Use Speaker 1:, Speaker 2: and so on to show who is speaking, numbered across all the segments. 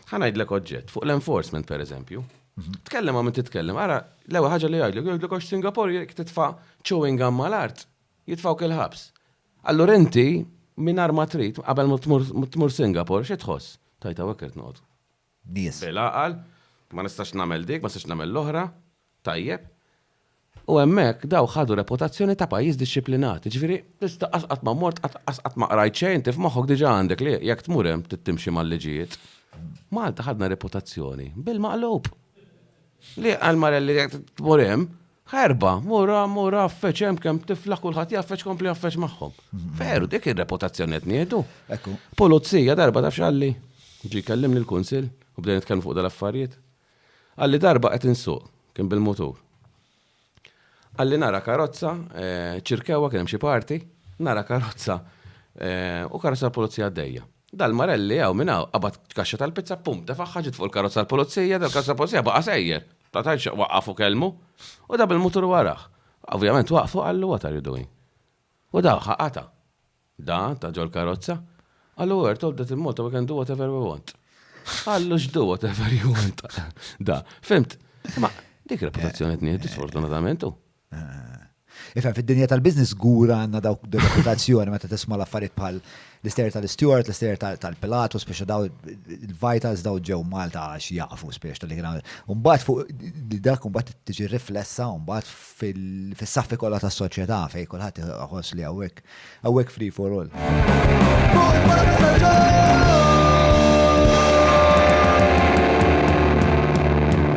Speaker 1: Ħa ngħidlek oġġett, fuq l-enforcement pereżempju. Mhm. Tkellem ma' min titkellem, ara, l-ewwel ħaġa li jgħidlek, jgħidlek għax Singapore jekk titfa' chewing gum mal-art, jitfgħu kil ħabs. Allura inti mingħajr ma trid qabel ma tmur Singapore xi tħoss? Tajta wekkert noqgħod. Nies.
Speaker 2: Bil-aqal,
Speaker 1: ma nistax nagħmel dik, ma nistax nagħmel l-oħra. tajjeb, u hemmhekk dawk ħadu reputazzjoni ta' pajjiż dixxiplinat, jiġifieri tista' qatt qatt ma mort, qatt qatt qatt ma qrajt xejn, inti f'moħħok diġà għandek li jekk tmur hemm trid timxi mal-liġijiet. Malta ħadna reputazzjoni bil-maqlub. Li għal marelli jekk tmur hemm, ħerba, mur hemm, mur hawn, feċ hemm kemm tifla kulħadd jaf feċ kompli jaf feċ magħhom. Veru, dik ir-reputazzjoni qed ngħidu. Pulizija
Speaker 2: darba
Speaker 1: taf x'għalli? Ġie jkellimni l-kunsill u bdejna nitkellmu fuq dal-affarijiet. Qalli darba qed insuq, kien bil-mutur. Qalli nara karozza, ċirkewha, kien hemm xi party, nara karozza u karozza tal-pulizija għaddejja. Dal-marelli hawn minn hawn qabad kaxxa tal-pizza, pum, tefagħha ġiet fuq il-karozza tal-pulizija, dal-karozza tal-pulizija baqa' sejjer. Ma tantx xtaq waqqaf u kellmu. U da bil-mutur warah. Ovvjament waqfu qallu what are you doing? U da ħaqatha. Da, ta' ġol karozza. Għallu għert, all that in Malta we can do whatever we want. Għallu x'do whatever you want. Da, fimt. Ma, dik reputazzjoni t-nieħ disfortunatamentu. Eh.
Speaker 2: Ifem, fid-dinja tal-biznis gura għanna dawk reputazzjoni meta tisma l-affarijiet bħal l-ister tal-Stewart, l-ister tal-Pilatu, speċa daw il-Vitals daw ġew Malta għax jaqfu speċa tal-li kien Umbat fuq dak umbat tiġi riflessa umbat fis-saffi kollha tas-soċjetà fejn kulħadd iħoss li hawnhekk hawnhekk free for all.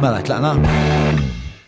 Speaker 2: Mela tlaqna.